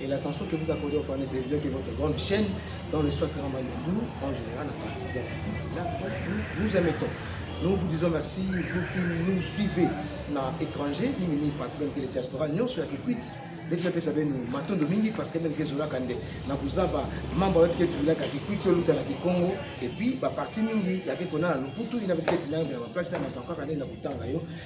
et l'attention que vous accordez aux femmes de télévision qui est votre grande chaîne dans l'espace de Rambandou, en général, en particulier c'est là nous, nous émettons. Nous vous disons merci, vous qui nous suivez dans l'étranger, ni ni pas que les diaspora, nous sur la quitte. ndeti napesa bino matondo mingi parce que ndenge ezolaka nde na kozaba mambo ya tike tulaka kikwiti oluta na kikongo epuis baparti mingi yake konana lokutu ina petike tinanga na baplace na makambo kaka nde na kotanga yo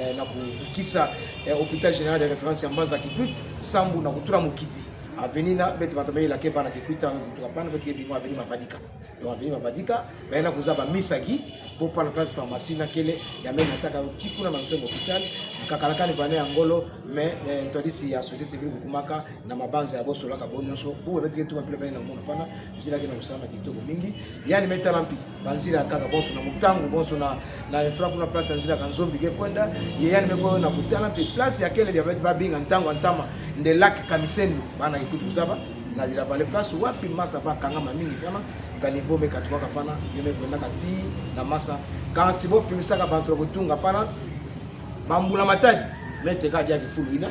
eh, na kovukisa eh, hôpital général de référence ya mbanza kikwit sambu na kotula mokiti aveni na bete bato bayela ke bana kikwit yango kutuka pana bete ke bingo aveni mabadika donc aveni mabadika baye na koza bamisaki mpo pana place pharmacie na kele ya meme ataka ti kuna na nso ya hôpital kakalakani bana ya ngolo mais eh, ntwadisi ya société civile kokumaka na mabanza ya bosolaka bo nyonso boye bete ke tuma mpila bani na mona pana ezilaki na kosala na kitoko mingi yani metala mpi banzila ya kaka bonso na motango bonso na na efra kuna place ya nzila kanzombi ke kwenda yeyani meko oyo na kutana mpe place ya kele diabete babinga ntango ya ntama nde lak kamiseni bana ekuti kozaba na la vallée place wapi masa bakangama mingi mpona kanivo mekatukaka mpana ye mekwendaka ti na masa kasi bopimisaka bato ya kotunga mpana bambula matadi meteka adiaki fulu ina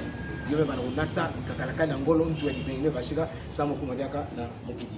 yo mpe bana konata kakalakani ya ngolo ntu ya libenge mpe basika sa mokuma diaka na mokiti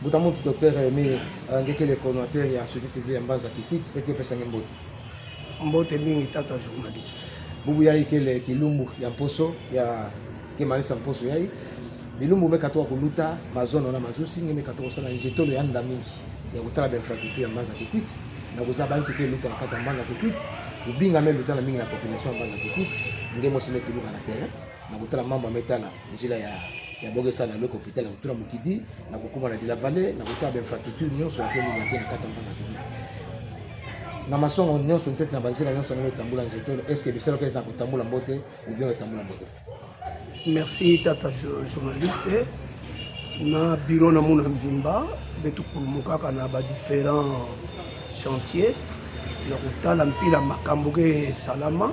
Mbuta Muntu Docteur Aime Ngekele coordinateur ya société civile ya Mbanza Kikwit mpe kopesa nge mbote. Mbote mingi tata journaliste. Bubu ya ikele kilumbu ya mposo ya kemanisa mposo yai bilumbu meka to kuluta mazono na mazusi nge meka to kosala njetolo ya nda mingi ya kotala ba infrastructure ya Mbanza Kikwit na kozala banki ke luta na kati ya Mbanza Kikwit kobinga me luta na mingi na population ya Mbanza Kikwit nge mosi me tuluka na terrain na kotala mambo ametala njila ya ya bokesa na loko hôpital ya kotula mokidi na kokoma na de la vallée na kotala bainfrastructure nyonso yake nini yake na kati ya mboka kibidi na masongo nyonso ntete na banzela nyonso yango etambola nzete oyo estce bisalaka eza kotambola mbote obion etambola mbote merci tata journaliste na biro na mona mvimba mpe tokulumukaka na badifférent chantier na kotala mpila makambo ke esalama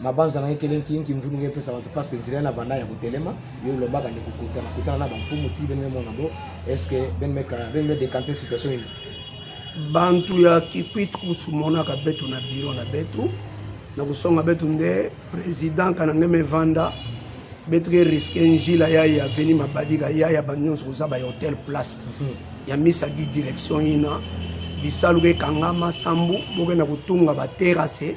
mabanza na ye kelenki yinki mvunu yo epesa bato parce que nzela ye na vanda ya kotelema yo olobaka nde kokutana kutana na bamfumu ti bene memona bo est ce que bene meka bene me décante situation nini bantu ya kikwit kusu monaka betu na biro na betu na kosonga betu nde président kanange mevanda betu ke riske njila ya ya veni mabadika ya ya bantu nyonso koza ba hotel place mhm. ya misa gi direction ina bisalu ekangama sambu bokenda kotunga baterase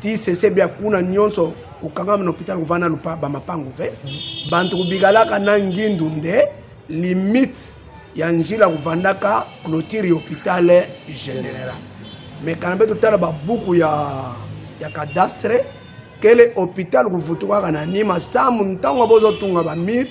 ti sese bia kuna nyonso kokangama na hôpital kovanda lupa bamapangu ve bantu kobikalaka na ngindu nde limite ya njila kovandaka clôture ya hôpital général mais kana mpe totala babuku ya, ya cadastre kele hôpital kovutukaka na nima samu ntango bozotunga bamire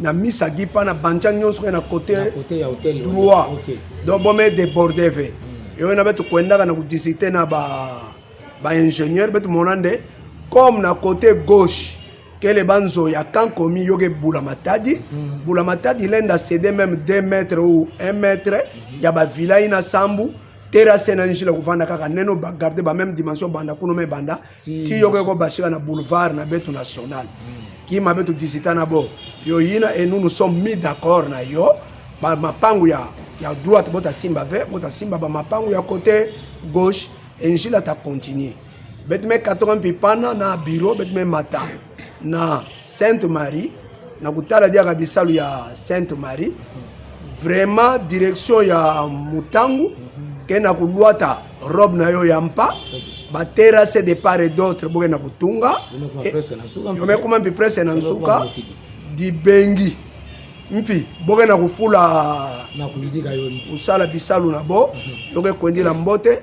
na misa gi mpa na banja nyonso na kote droit donc bome deborde ve hmm. eyo na betu kuendaka na kudisite na baingénieur ba betu mona nde comme na kote gauche kele banzo ya camp komi yoke bula matadi hmm. bula matadi lenda cede meme 2 mètre ou 1 mètre hmm. ya bavilai na sambu terase na njila kofanda kaka neno bagarde bameme dimension banda kuno me banda ti yo ko bashika na boulevard na beto national hmm. ki mabe to disita na bo yo yina et nous nous sommes mis d'accord na yo ba mapangu ya ya droite bota simba ve bota simba ba mapangu ya côté gauche et njila ta continuer betme 80 pipana na bureau betme mata na Sainte Marie na kotala diaka bisalu ya Sainte Marie vraiment direction ya Mutangu ke na koluata robe na yo ya mpa baterase de part et d'autre boke na kotunga yomekuma mpi presse na nsuka dibengi mpi boke na kofula kosala bisalu na bo mhm. yoke kwendila mbote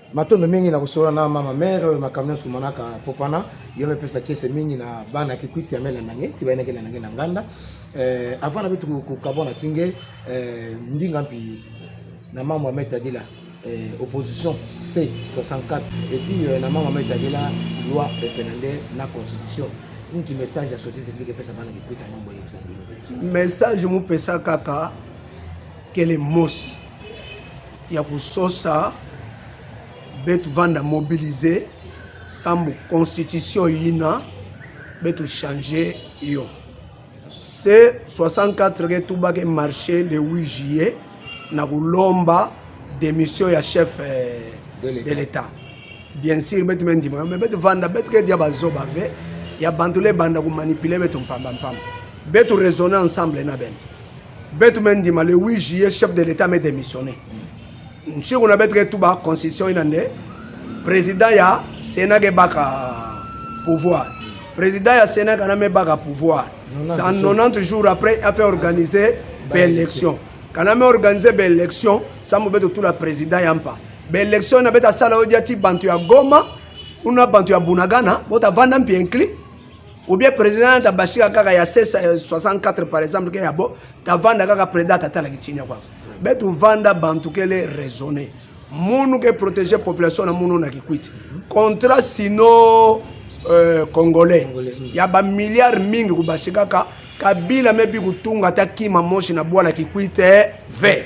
matondo mingi na kosolola na mama mare oyo makambo nyonso komonaka popana yo mepesa kese mingi na bana kikwiti ya mele nange ti bayinaki elenange na nganda eh, avant na bitu kokabwa na tinge eh, ndinga mpi na mambo ya metadila eh, opposition c 64 et puis na mambo ya metadila loi referendaire na constitution nki message ya société civile epesa bana kikwiti yango boyebisa message mopesa kaka kele mosi ya kososa betu vanda mobilise sambo constitution yina betu change yo se 64 ke tubake marche le 8 juillet na kolomba démission ya chef eh, de l'état bien sûr betu mendima yo me betu vanda betu kedia bazoba ve ya bantu le banda komanipule betu mpamba mpamba betu raisonne ensemble na bene betu me ndima le 8 juillet chef de l'état me démissionné nshiko na betu ke tuba constitution ina nde président ya sénat ke baka pouvoir président ya sénat kana me baka pouvoir dans 90 jours après a fait organiser baélection kana me organiser baélection sambo betu tula président ya mpa baélection na betu asala odia ti bantu ya goma kuna bantu ya bunagana botavanda mpi inclus ou bien président ta bashika kaka ya 64 euh, par exemple ke ya bo ta vanda kaka président ta tala kitinya kwa betu vanda bantu kele raisonner munu ke protéger population na munu na kikwiti contrat sino euh, congolais hmm. ya ba milliards mingi kubashika kaka kabila mebi kutunga ta kima moshi na bwala kikwite ve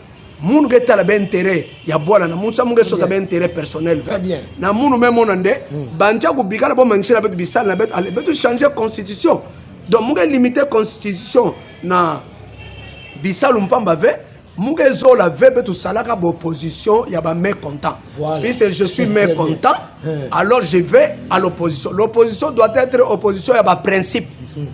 munu ke tala ba intérêt ya bwala na munsa munge sosa ba intérêt personnel très bien na munu me mona nde hmm. banja ku bikala bo mangisela betu bisala na betu ale betu changer constitution donc munge limiter constitution na bisalu mpamba ve munge zola ve betu salaka ba opposition ya ba mécontent voilà. puisque je suis mécontent hmm. alors je vais à l'opposition l'opposition doit être opposition ya ba principe hmm.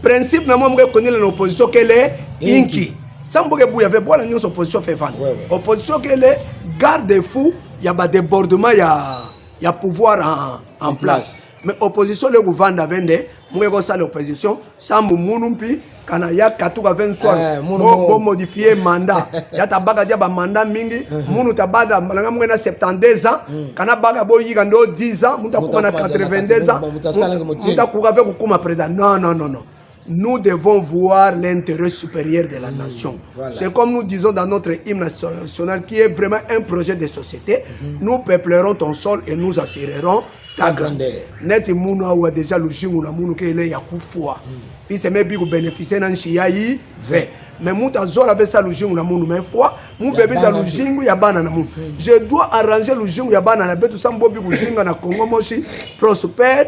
principe na moi munge konela na opposition kele inki, inki. sans boke buya ve bwana nyonso opposition fait vendre ouais, ouais. opposition kele garde fou ya ba débordement ya ya pouvoir en, en place mais opposition le kuvanda vende moke kosala opposition sambu munu mpi kana ya katuka 20 soir eh, bo modifie mandat ya tabaka dia ba mandat mingi munu tabada malanga moke na 72 ans hmm. kana baka boyika ndo 10 ans mutu akuma na 82 ans mutu akuka ve kokuma président non non non non Nous devons voir l'intérêt supérieur de la mmh, nation. Voilà. C'est comme nous disons dans notre hymne national qui est vraiment un projet de société. Mmh. Nous peuplerons ton sol et nous assurerons ta grandeur. Neti munu awa déjà lujingu na munu ke ile ya kufua. Mm. Puis c'est même biku bénéficier na nshia yi ve. Mais mutu azola avec ça lujingu na munu mais fois mu bébé ça lujingu ya bana na munu. Mm. Je dois arranger lujingu ya bana na betu sambo biku jinga na Congo moshi prospère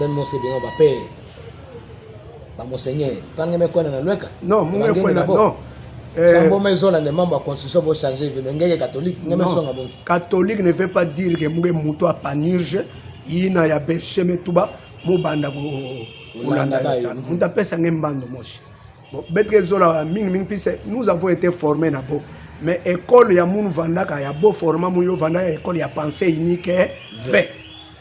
ben mose bino ba père ba monseigneur pange me kwena na lweka non munge kwena non eh. sango me zola ne membre constitution bo changer vie mais ngeke catholique ngeme songa bonki catholique ne veut pas dire que munge muto a panurge ina ya berche me tuba mobanda ko olanda muta pesa nge mbando moshi bon betre zola mingi mingi pise nous avons été formés na bo mais école ya munu vandaka ya bo forma mu yo vandaka école ya pensée unique eh, fait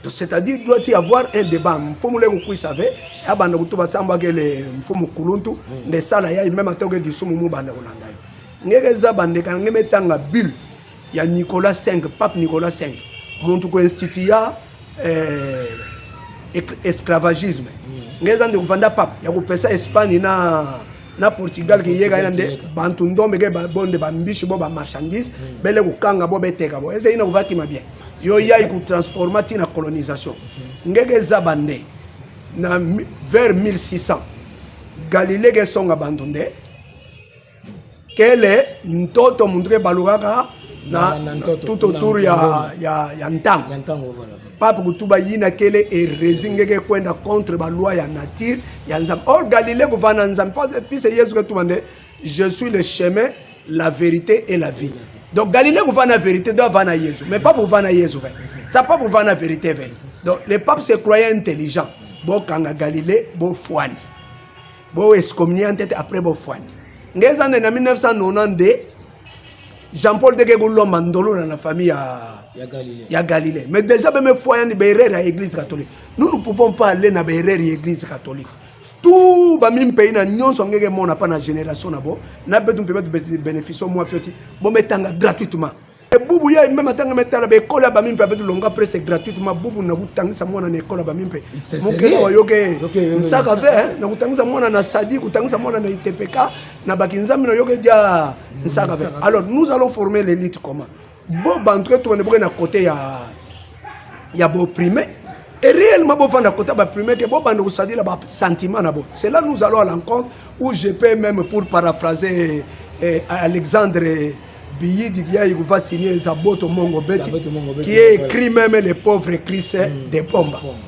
c'est-à-dire doit y avoir un débat mfumu leko kuisa ve abanda kutu basambaki le mfumu kuluntu mm. nde sala ya meme atoke lisumu mu banda kolanda yo ngeke eza bandeka na nge metanga bulle ya nicolas 5 pape nicolas 5 muntu ko instituya eh, esclavagisme mm. nge eza ndeko vanda pape ya kopesa espagne na na portugal ke yega ina nde bantu ndombe ke bonde bambishi bo bamarchandise hmm. bele kokanga bo beteka bo eza ina kovakima bien yo yai kotransforma ntina colonisation hmm. ngeke eza bande na vers 1600 galilée ke esonga bantu nde kele ntoto muntu ke balukaka na tout autour ya, ya, ya ntango pape kutuba yina kele erezi ngeke kwenda contre baloi ya nature ya nzambe or galilée kuva na nzambe pise yesu ketuba nde je suis le chemin la vérité et la vie donc galilée kuva na vérité do ava na yesu mais pape kuva na yesu ve sa pape kuva na vérité ve donc le pape se croyait intelligent bokanga galilée bofwani boescomnia ntete après bofwani nge eza nde na 1992 Jean-Paul Dege Boulomba Ndolo dans la famille à ya Galilée. Mais déjà même fois il y a des à l'église catholique. Nous ne pouvons pas aller dans les à l'église catholique. Tout ba même pays na nyonso ngeke mona pas na génération na bo. Na betu mpe betu bénéfice moi fioti. Bon mais tanga gratuitement. Et boubou ya même tanga mais tala be kola ba mimpe betu longa presse gratuitement boubou na kutangisa mwana na école ba mimpe. Mokelo yoke. Nsaka ve hein, na kutangisa mwana na sadi, kutangisa mwana na ITPK. na bakinzambi na yo ke ja nsaka be alors nous allons former l'élite comment bo bantu etu bande boke na côté ya ya boprime et réellement bofanda kota baprime ke bobanda kosadila basentiment na bo c'est là nous allons à l'encontre où je peux même pour paraphraser eh, alexandre biyidi kiyayi kuva signe eza boto mongo beti qui est écrit même les pauvres christ mm. de pomba mm.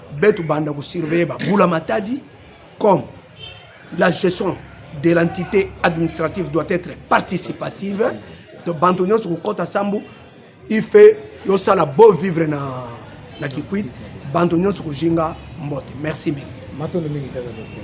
betu banda ko surveiller ba bula matadi comme la gestion de l'entité administrative doit être participative to bantu nyonso kokɔta sambo il fait yosala beau vivre na, na kikwit bantu nyonso kojinga mbote merci mingi matondo mingi tata docteur